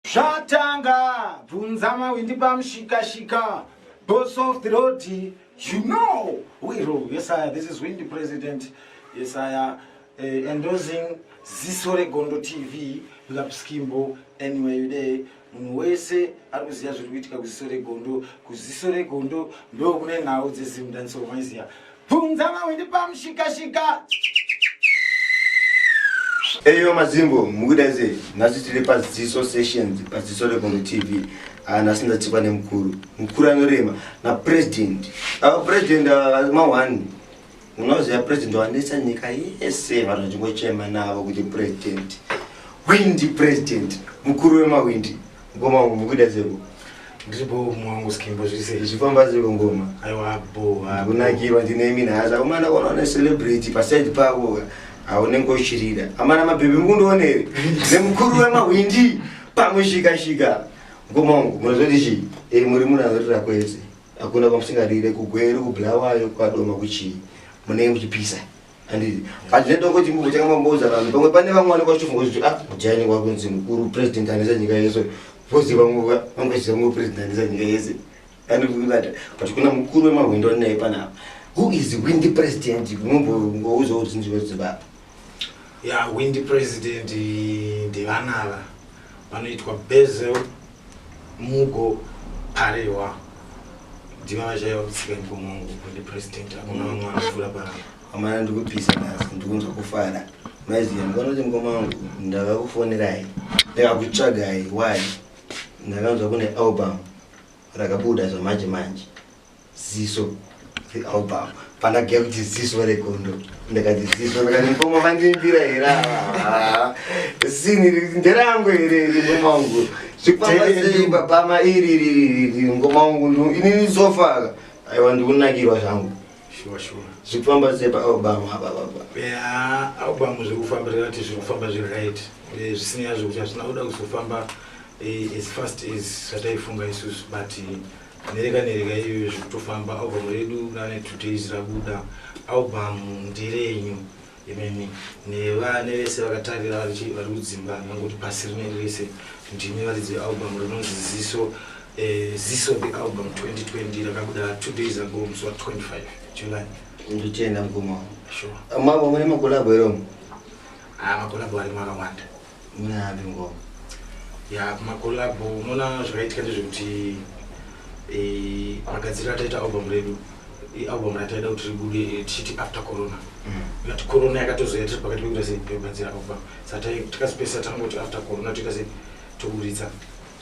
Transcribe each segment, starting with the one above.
Zvatanga bvunza mawindi pamushika shika boss of the road you know we rule yes I, this is windy president yes I am uh, endorsing ziso regondo tv lapskimbo anyway you day munhu wese ari kuziva zviri kuitika kuziso regondo kuziso regondo ndokune nhau dzezimdansomaizia Bvunza mawindi pamushikashika. Eyo mazimbo mukuda sei nhasi tiri paziso sessions paziso regono tv ah, nhasi ndatsikwa nemukuru mukuru anorema napresident avo president ah, maone unoziva president wanetsa nyika yese vanhu vachingochema navo kuti president windi president mukuru wemawindi Ngoma wangu mukuita sebo. Ndiri bo mwangu skimbo zvise. Ichifamba sebo ngoma. Aiwa bo. Kunakirwa ndine mimi nhaza umana kona une celebrity pa side pako. Aunenge uchirira. Amana mabhebhi mukundoonere. Nemukuru wemahwindi pamwe shika shika. Ngoma wangu munozoti chi? Eh muri muna zvatira kwese. Hakuna kwamusingarire kugweru kublawayo kwadoma kuchii. Munenge muchipisa. handiti handina dongo chimbuko chakamamboudza vanhu pamwe pane vamwe vanenge vachitofunga kuti a ah, mujani wakunzi mukuru president anisa nyika yese vozi vamwe vangaziva mukuru president anisa nyika yese andikunata but kuna mukuru wemahwindo anaye panapa who is windy president unombongouza kuti ndinoziva ya windy president ndevanava vanoitwa bezel mugo parewa ndivava chaiva kutsika ndikomwangu kuende president akuna vamwe anofura parapa amana ndikupisa nhasi ndikunzwa kufara maiziva ndikona kuti mukomwangu ndakakufonerai ndakakutsvagai why ndakanzwa kune album rakabuda zvamanje manje ziso the album pandagiya kuti ziso regondo ndakati ziso ndakati mukoma vandiimbira here ava sini nderangu here mukoma wangu zvikwaasei babama iri ririri mukoma wangu inini zofaka aiwa ndikunakirwa zvangu zvikufamba sei paalbum apa baba ya album zviri kufamba tirati zviri kufamba zviri right eh, zvisinei yazvo kuti hazvina kuda kuzofamba eh, as fast as zvataifunga isusu but Nereka nereka iyoyo zvikutofamba album redu rane two days rabuda album nderenyu imimi nevane vese vakatarira vari kudzimba nangoti pasi rine rese ndimi varidzi vealbum rinonzi ziso eh, ziso the album 2020 rakabuda two days ago musi wa 25 july nditenda mukoma sure mavo mune makolabo eromu a ah, makolabo arimo akawanda nyadi ngoma ya kumakolabo unoona zvakaitika ndezvekuti eh, magadziro ataita album redu ialbum rataida kuti ribude tichiti after corona nati corona yakatozouya tiri pakati pekuita sei pekugadzira album saka tikazopesa tangoti after corona toita sei toburitsa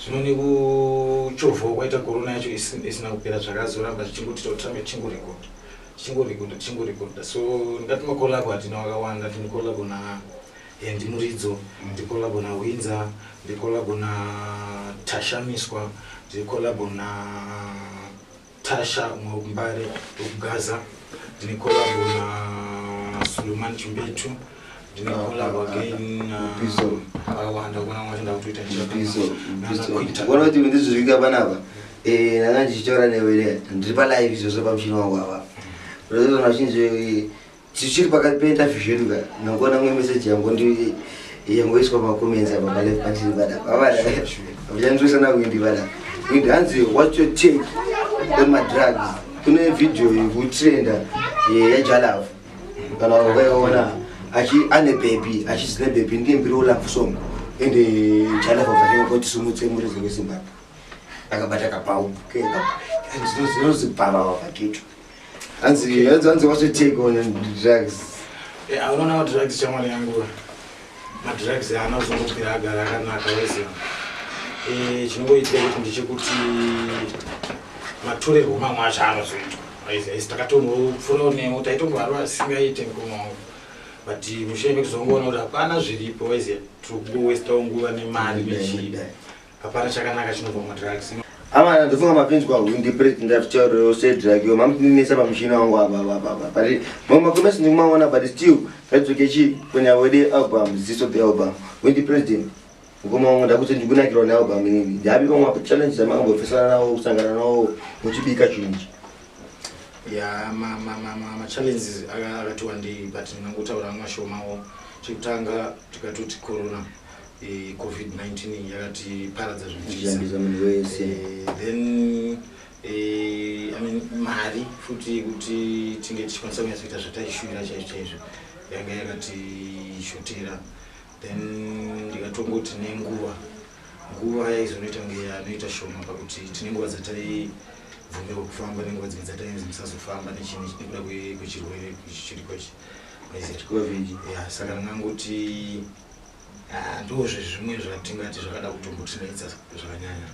zvino nekuchovhawo kwaita corona yacho isi- isina kupera zvakazoramba zvichingoti totambe tichingorekoda tichingorekoda tichingorekoda so ndati makolabo hatina wakawanda tine kolabo na Andy Muridzo ndi collabo na Hwinza ndi collabo na Tasha Miswa ndi collabo na Tasha umwe wekumbare wekugaza ndine collabo na Suleiman Chimbetu ndine collabo again na akawanda kuona mwati ndakutoita njirawanoti ndizvizvika panapa ndanga ndichitaura newe ndiri palive izvozvo pamuchini wangu ava zvozoona vachinzi Tichiri pakati peIntervision ka, nangona mwe message yangu ndi yangoiswa macomments apa palive pachiri bada. Vavada, vachanzwisa na windi bada. Windi hanzi what's your take on my drugs? Kune video yekutrenda eh, yajalavu kana wakaiona achi ane baby achizine baby ndiye mbiri olafu song ende jalavu akatanga kuti simutse murezi wezimbabwe akabata kapawu kekapa zvinozibvava wakakichwa hanzi hanzi watotake on drugs eh, aunoona madrugs shamwari yangu madrugs haana kuzongobvira agara akanaka waiziva eh, chinongoitika kuti ndechekuti maturerwo mamwe acho anozoitwa aiziva isi takatonopfura unewo taitongovarwa asingaite mukoma wangu but mushure mekuzongoona kuti hapana zviripo waiziva tiri kungowestawo nguva nemari mechida Hapana chakanaka chinobva mudrugs. Amana ndofunga mapinzwa hwindi president ndafutauriro sedrag yo mamutinenesa pamushina wangu apapapapa but mamwe makomesi ndikumaona but still ngaidzoke chi kwenya wede album ziso the album hwindi president mukoma wangu ndakuti ndikunakirwa nealbum inini ndiapi pamwe machallenges amangambofesana nawo kusangana nawo muchibika chinhu ichi ya machallenges akati wandei but ndingangotaura amwe ashomawo chekutanga tikatoti corona Eh, covid-19 yakatiparadza zvinotyisa munhu wese eh, then eh, i mean mari futi yekuti tinge tichikwanisa kunyatsoita zvataishuvira chaizvo chaizvo yanga yakatishotera then ndikatongoti nenguva nguva yaizonoita kunge anoita shoma pakuti tine nguva dzataibvumirwa kufamba nenguva dzimwe dzatainzi musazofamba nechini nekuda kwechirwere chiriko ichi covid ya saka ndingangoti Ah, ndozve zvimwe zvatingati zvakada kutombotinetsa zvakanyanya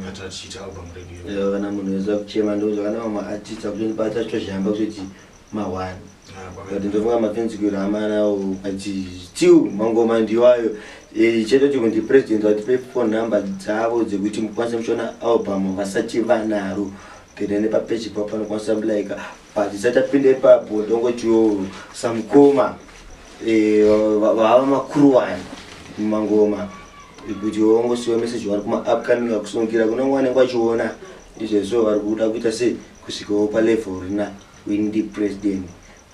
ata tichiita album redu iyo kana munhu weza kuchema ndo zvakana vamwe artist akuti bata chitozhamba kuti mawani ah, but ndofunga mafensi kuira amana ati still mangoma ndiwayo eh, chete kuti kuti president vatipe phone number dzavo dzekuti mukwanise muchiona album vasati vanaro kene nepapechi papanokwanisa kulaika but isati apinde ipapo ndongotiwo samukoma Eh, vava makuruwani mumangoma kuti wongosiwa message vari kumaupcoming akusungukira kune mwana wanenge achiona izvezvo vari kuda kuita sei kusvikawo palevel rina windi president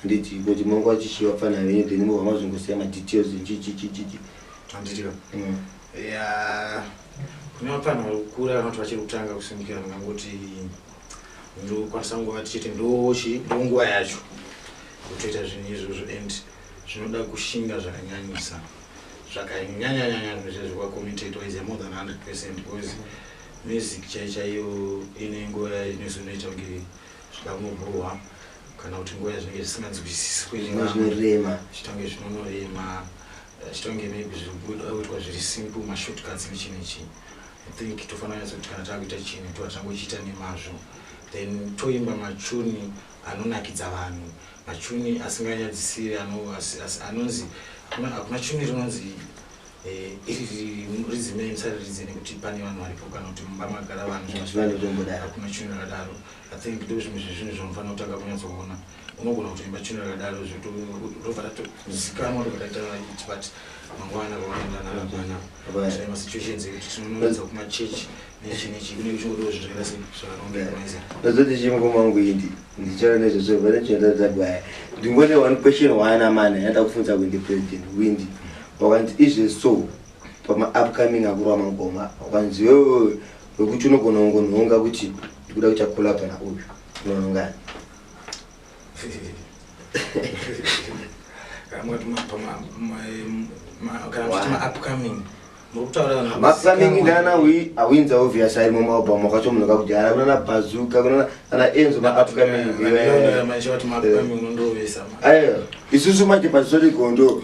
handiti kuti mongo achishiva fana venyu then mova mazongosiya madetails chichichichichi handitika mm. ya kune vafanha vakukura vanoti vachiri kutanga kusungukira vangangoti ndokwanisa nguva ti chete ndochi ndonguva yacho kutoita zvinhu izvozvo and zvinoda kushinga zvakanyanyisa zvakanyanyanyanya zvezvekwa committed wise more than 100 percent because music chai chaiyo ine nguva yayo inozonoita kunge zvikamubhohwa kana kuti nguva yazvinenge zvisinganzwisiswe zvinorema zvitange zvinonorema chitonge maybe zviri kuda kuitwa zviri simple mashortcuts nechi nechi i think tofanira nyatsa kuti kana takuita chinhu toa tangochiita nemazvo then toimba machuni anonakidza vanhu machuni asinganyadzisiri anonzi hakuna chuni rinonzi eh, iri rizime musari rizive nekuti pane vanhu varipo kana kuti mumba magara vanhu zvazvinakuna chuni rakadaro I think ndozvimwe zvezvinhu zvaunofanira kutanga kunyatsoona unogona kutoimba chino rakadaro zvotobva ratozikanwa tokataita iti but mangwana vaenda narakwana zvine masituations ekuti tinonoedza kumachechi nechi nechi kunenge chingodo zvirera se zvakarongeiza ndazoti chimbo mangu idi ndichara nezvese vane chinotaridza gwaya ndingone one question waana mana yanda kufunza kundi president windi wakanzi izve so pama upcoming akuru amangoma wakanzi yoyo wekuti unogona kungonhonga kuti ndikuda kuita kolapa nauyu unonhongani maplaming ndana awinza obvious ari mumaobham wakacho munhu kakudhara kunana bazuka kunana enzo maaplaming isusu manje paziso regondo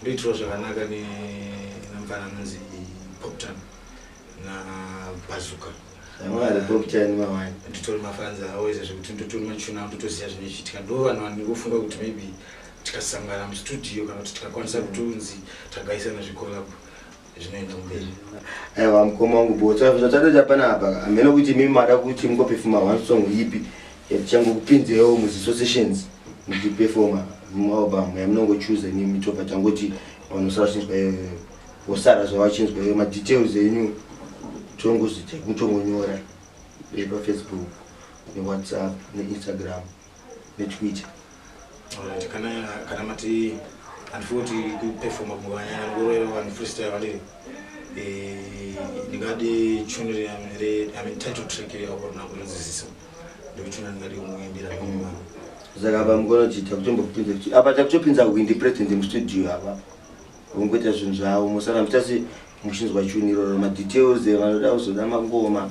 Ndoitirwa zvakanaka nemfana anonzi Poptan naBazuka. Nditori mafanzi awo eza zvekuti ndotori machuna awo ndotoziva zvinochitika. Ndo vanhu vanongofunga kuti maybe tikasangana mustudio kana kuti tikakwanisa kutonzi tagaisana zvikolabo. zvinoenda mberi aiwa mukoma wangu bo zvatatoita panapa hameno kuti mimi mada kuti mukopefuma one song ipi yatichangokupinzewo muziso sessions muchipefoma mualbum yamunongochuza imi mitobva tangoti vanosara chinzwa iyoyo vosara zvavachinzwa iyoyo madetails enyu tongozita mutongonyora pafacebook newhatsapp neinstagram nechikuita Alright, kana kana mati handifoti kuperforma kuvanyana ngorero vanhu freestyle vandiri eh, ndingade tune re re- I mean title track yakorona kunonzwisisa ndokutuna ndingade kumuimbira mimi vanhu saka apa mukonochiita kutombokupinza kuti apa takutopinza hwindi president mustudio apa vongoita zvinhu zvavo mosara muchitasi muchinzwa chuni iroro madetails eh, vanoda kuzoda mangoma